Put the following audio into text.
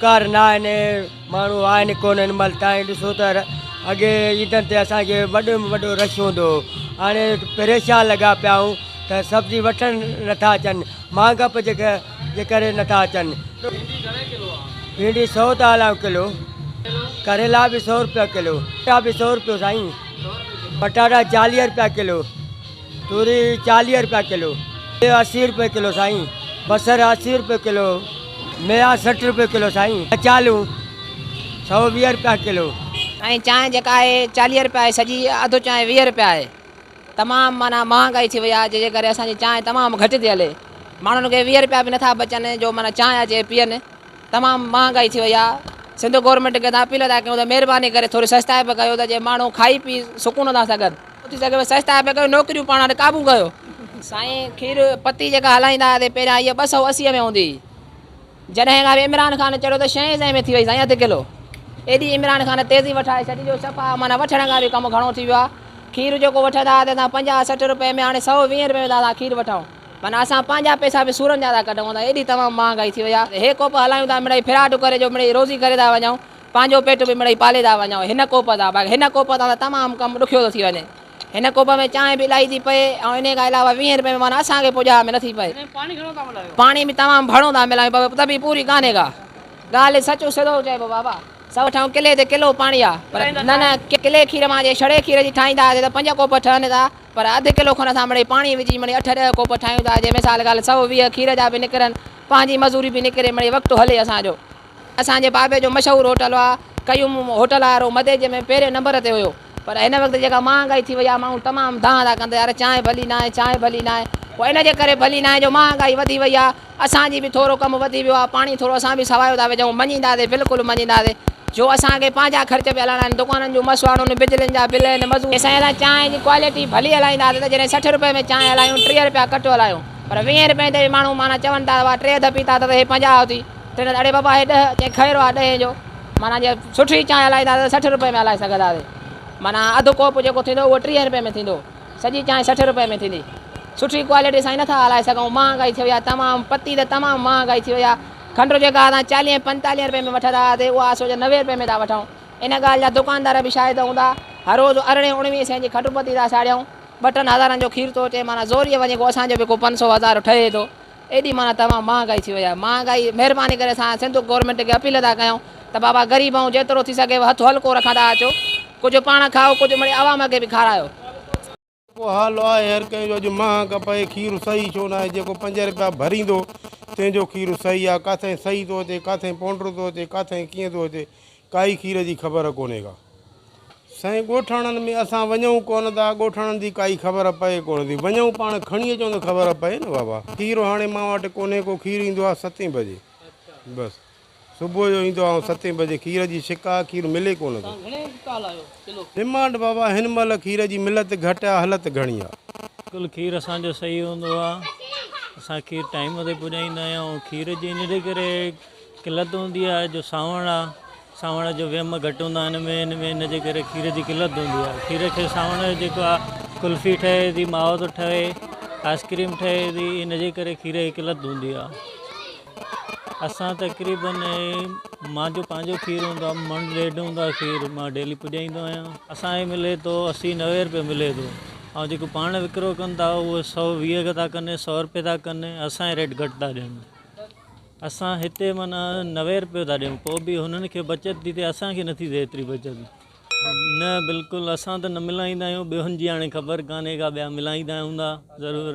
روزگار نه آهن ماڻهو آهن ڪو نه هن مهل تائين ڏسو ته اڳي عيدن تي اسانکي وڏو ۾ وڏو رش هوندو هو هاڻي پريشان لڳا پيا آهيون ته سبزي وٺڻ نٿا اچن مهانگا به جيڪا جي ڪري نٿا اچن ڀينڊي سو ٿا هلايو ڪلو ڪريلا به سو روپيا ڪلو پٽا به سو روپيو سائين پٽاٽا چاليهه روپيا ڪلو توري چاليهه رپيا ڪلو. سيء اسي رپي ڪلو سائين. بصر اسي رپي ڪلو. ميا سٺ رپي ڪلو سائين. ڪچالون سؤ ويهه رپيا ڪلو. ۽ چانهه جيڪا آهي چاليهه رپيا آهي سڄي اڌ چانهه ويهه رپيا آهي تمام معنيٰ مهانگائي ٿي وئي آهي جنهن جي ڪري اسان جي چانهه تمام گهٽ ٿي هلي ماڻهن کي ويهه رپيا به نٿا بچن جو معنيٰ چانهه اچي پيئن تمام مهانگائي ٿي وئي آهي سنڌ گورنمينٽ کي اسان اپيل ٿا ڪيون ته مهرباني ڪري ٿوري سستائي به ڪيو ته جي ماڻهو کائي پي سڪون سان سگهن. اٿي سگهي پئي سجدا پئي ڪيو نوڪريون پاڻ وٽ قابو ڪيو سائين کير پتي جيڪا هلائيندا هئاسي پهريان اها ٻه سؤ اسي ۾ هوندي هئي جڏهن کان عمران خان چڙهيو ته شين سئين ۾ ٿي وئي سائين اڌ ڪلو ايڏي عمران خان تيزي وٺائي ڇڏي جو صفا معنيٰ وٺڻ کان به ڪم گهڻو ٿي ويو آهي کير جيڪو وٺندا هئاسي اسان پنجاهه سٺ روپئي ۾ هاڻي سؤ ويهه روپئي ۾ ٿا اسان کير وٺون معنيٰ اسان پنهنجا پئسا به سورن جا ٿا ڪڍون اسان ايڏي تمام مهانگائي ٿي وئي آهي هي ڪوپ هلايون ٿا مڙئي ڦراٽ ڪري جو مڙئي روزي ڪري ٿا وڃون پنهنجو پيٽ به مڙئي پالي ٿا وڃون هن ڪوپ تان باقي هن ڪوپ تان ته تمام ڪم ڏکيو ٿو ٿي وڃي هن ڪوپ ۾ چانهه به الائي ٿي پئي ۽ انهي کان علاوه ويهين رپين ۾ معنيٰ اسان کي پڄاء ۾ نٿي پئي پاڻي به تمام ڀڙو ٿا ملايون پر ته به پوري ڪانهي ڪا ڳالهه سچ سڌو چئبو بابا سو ٺاهيون ڪلي تي ڪلو پاڻي آ پر نه نه ڪلي کير مان جي ڇڙي کير جي ٺاهيندا هئاسين ته پنج ڪوپ ٺهن ٿا پر اڌ ڪلو کن اسان مڙئي پاڻي وجهي مڙئي اٺ ڏهه ڪوپ ٺاهيون ٿا جي مثال ڳالهه سؤ ويهه کير جا به نڪرن پنهنجي مزوري به نڪري مڙئي وقت هلي اسان جو اسان جي بابي جو مشهور هوٽل هئا قيوم هوٽل وارو مديجي ۾ پهرين نمبر تي هيو پر هن وقت جيڪا مهانگائي ٿي وئي آهي ماڻهو تمام دانهن ٿا ڪن ته يار چانهه ڀلي ناهي چانهه ڀلي ناهي پوء ان جي ڪري ڀلي ناهي جو مهانگائي وڌي وئي آهي اسان جي به ٿورو ڪم وڌي ويو آهي پاڻي ٿورو اسان به سوايو ٿا وجهون مڃينداسي بلڪل مڃينداسي جو اسان کي پنهنجا خرچ به هلائڻا آهن دڪانن جون مسواڙون بجلين جا بل آهن مزوري جي سائين اسان چانهه جي ڪوالٽي ڀلي هلائينداسي ته جڏهن سٺ روپئي ۾ چانهه هلايون ٽيهه روپيا ڪٽ هلايون پر ويهين روپين تي به ماڻهو معنيٰ چون ٿا ته واهه ٽي اڌ پيتا اٿس هي پنجاهه ٿي تنهن چيو اڙي بابا هي ڏهه ڪنهن کيرو آهي ڏهين جو معنيٰ جي سٺي چانهه هلائيندا ته سٺ روپئي ۾ هلائي سگهنداسين معنيٰ اڌ ڪوپ جيڪو ٿيندو اهو ٽيهين روپئي ۾ ٿيندو سڄي چانهه سٺ روپئي ۾ ٿيندي سٺي ڪوالٽي سان نٿا هلائي سگهون مهانگائي ٿي وئي آهي تمام پتي ته تمام مهانگائي ٿي وئي آهي کنڊ جيڪا اسان چاليهين پنجتاليهين روپئي ۾ وٺندا هئاسين اها اسان سوچ نوي روپئي ۾ ٿا وٺون ان ڳالهه جا دڪاندار به شاهد هوندا هر روز ارڙهين اڻويهين سين جي کنڊ پتي ٿا ساڙيون ٻه ٽن هزارن جو کير ٿو اچي معنيٰ زوريء وڃي ڪو اسان جو به ڪو پنج سؤ هزار ٺهي ٿو ايڏي معنيٰ توهان مهانگائي ٿي وئي آهي مهانگائي مهرباني ڪري اسان سنڌ گورنمينٽ کي اپيل ٿا ڪيون ته بابا غريب آهيون جيترو ٿي سگهيو هٿ هلڪو رکندا اچو ڪجهه پاڻ کائو ڪجهه مڙئي عوام کي به کارايو. جيڪو حال آهي هر ڪنهن جو اڄ مهانگ پئي کير صحيح ڇو ناهي جيڪو پنج رپيا ڀريندو تنهن جو کير صحيح آهي ڪاٿائين صحيح ٿو اچي ڪاٿائين پونڊر ٿو اچي ڪاٿائين ڪيئن ٿو اچي ڪائي کير جي خبر ڪونهي ڪا. سائين ڳوٺاڻن ۾ اسان وڃون ڪونه ٿا ڳوٺاڻن جي ڪائي خبر پئي ڪونه ٿي وڃون پاڻ کڻي اچون ته خبر پئي نه بابا کير هاڻي مان وٽ ڪونهي ڪو کير ايندو آهي ستين بجي بس صبح جو ايندو آهي ستين بجي کير جي شڪ آهي کير ملي ڪونه ٿو ڊمانڊ بابا هن مهل کير جي ملت گهٽ آهي هلت گهڻي آهي. بلڪل کير اسان جو صحيح هوندو آ اسان کير ٽائيم تي پڄائيندا آهيون کير جي ان جي ڪري قلت هوندي آهي جو سانوڻ آ سانوڻ جو ويم گهٽ هوندو آهي هن ۾ هن ۾ هن جي ڪري کير جي قلت هوندي آهي کير کي سانوڻ جو جيڪو آ قلفي ٺهي ٿي ماوو ٿو ٺهي آئسڪريم ٺهي ٿي هن جي ڪري کير جي قلت هوندي آ اسان تقريبن مانجو پنهنجو کير هوندو آ من ڏيڍ هوندو آ کير مان ڊيلي پڄائيندو آهيان اسان کي ملي ٿو اسي نوي روپيه ملي ٿو ۽ جيڪو پاڻ وڪرو ڪن ٿا اهو سؤ ويهه ٿا ڪن سؤ روپيه ٿا ڪن اسان کي ريٽ گهٽ ٿا ڏين اسان هتي معنيٰ نوير پيو ٿا ڏيون پوء به هنن کي بچت ٿي ٿئي اسان کي نٿي ٿئي ايتري بچت نه بلڪل اسان ته نه ملائيندا آهيون ٻيون جي هاڻي خبر ڪانهي ڪا ٻيا ملائيندا هوندا ضرور.